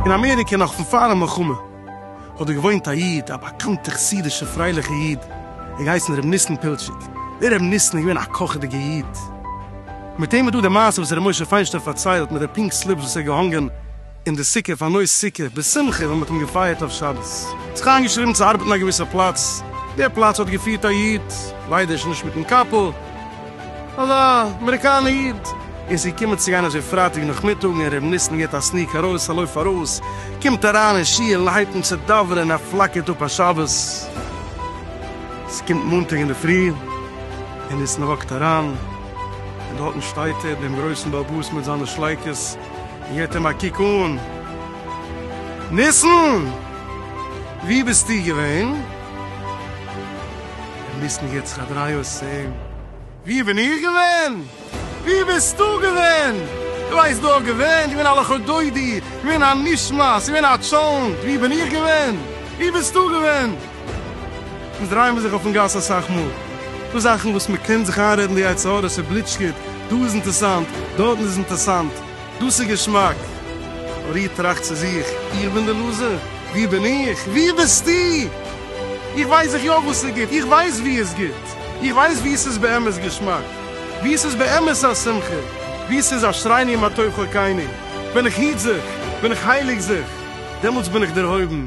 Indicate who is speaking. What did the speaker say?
Speaker 1: אין אמעריקע נאך פון פארן מלחמה האט דא געוואוינט א איד, א באקאנטע חסידישע פרייליכע איד, ער האט געהייסן ר' ניסן פילטשיק, דער ר' ניסן איז געווען א קאכעדיגע איד, מיט אים איז דא די מעשה וואס ר' משה פיינשטיין פארציילט מיט די פינק סליפס וואס ער האט געהאנגען. אין די סוכה פאר נוי סוכה בשמחה ווען מען האט אים געפייערט אויף שבת, זיך איינגעשריבן צו ארבעטן א געוויסע פלאץ, די פלאץ האט געפירט א איד, ליידער שוין נישט מיטן קאפל, אזא אמעריקאנע איד, און ס'איז געקומען צו גיין אזוי פרייטאג נאכמיטאג און ר' ניסן געט א סניק ארויס א לויף ארויס, קומט אריין אין שול און הייבט אן צו דאווענען ער פלאקערט אפ א שבת, ס'קומט מאנטאג אינדערפרי און ניסן וואקט אריין און דארטן שטייט ער דעם גרויסן באבוס מיט זיינע שלייקעס, געט אים א קוק אן. ניסן! וואו ביסטו געווען? דער ניסן געט זיך א דריי אויס צו אים. וואו בין איך געווען? וואו ביסטו געווען? דו הייסט דא געווען? געווען א לכה דודי? געווען א נישט מיינס? געווען א טשולענט? וואו בין איך געווען? וואו ביסטו געווען? אונז דרייען מיר זיך אויפן גאס אסאך מאל, דא זאכן וואס מען קען זיך איינרעדן די יצר הרע ס'בליטשט גוט, דא איז אינטערסאנט, דארטן איז אינטערסאנט, דאס איז געשמאק. אבער איר טראכט צו זיך, איך בין די לוזער? ווי בין איך? ווי ביסטו? איך ווייס זיך יא וואס איז גוט, איך ווייס ווי איז גוט, איך ווייס ווי ס'איז באמת געשמאק, ווי ס'איז באמת א שמחה, ווי ס'איז אשריני מה טוב חלקינו, ווען איך היט זיך, ווען איך הייליג זיך, דעמאלטס בין איך דערהויבן,